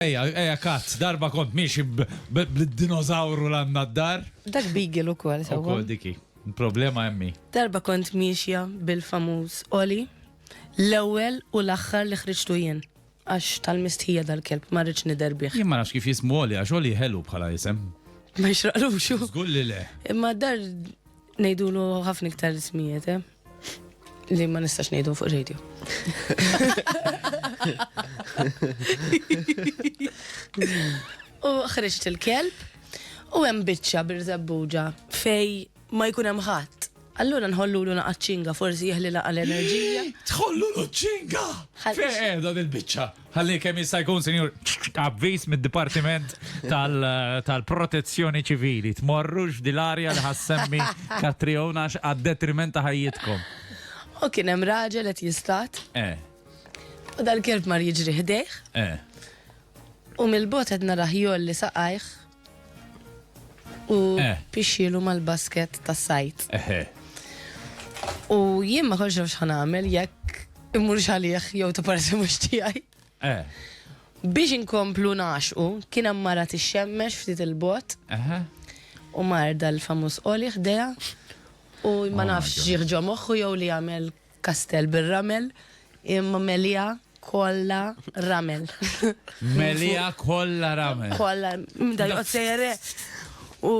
Ejja, ejja cut, darba kont miexi bl-dinozawru l-għanna d-dar. Dak beagle ukoll sewwa. Ukoll diki. Problema emmi. Darba kont miexja bil-famuż Oli, l-ewwel u l-aħħar li ħriġtu jien. Għax tal-mistħija dal-kelb ma rridx nidher bih. Jien ma nafx kif jismu Oli għax Oli ħelu bħala isem. Ma jixraqlux. Żgur li le. Imma d-dar ngħidulu ħafna iktar ismijiet, eh. Li ma nistax ngħidu fuq radio. U ħriġt il-kelb u hemm biċċa birżebbuġa fej ma jkun hemm ħadd. Allura nħollu l naqaċċinga forsi jeħli laqa l-enerġija. Tħollu l-ċinga! Fejn qiegħda dil-biċċa? Ħalli kemm jista' jkun, Sinjur, avviż mid-Dipartiment tal-Protezzjoni Ċivili. Tmorrux f'dil arja li ħassemmi Katriona għax għad-detriment ta' ħajjitkom. U kien hemm raġel qed jistat. Eh. U dal-kelb mar jiġri ħdejh. Eh. U mill-bot qed narah jolli saqajh. u Eh. pixxielu mal-basket tas-sajd. Eħe. U jien ma kontx naf x'ħan nagħmel jekk immurx għalih jew ta' parsi mhux tiegħi. Eh. Biex inkomplu naxqu, kien hemm mara tixxemmex ftit il-bot Eħe. u marda l-famuż qoli ħdejha u ma Oh my nafx God. ġieħ ġo moħħu jew li jagħmel Kastell bir-ramel, imma meliha kollha ramel. Meliha kollha ramel. Kollha, da joqgħod sejjer u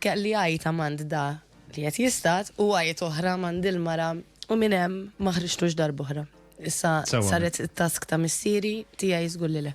kelli għajt amand da li qed jistat u għajt oħra amand il-mara u minn hemm ma ħriġtux darba oħra. Issa saret it-task ta' missieri tiegħi żgur li le.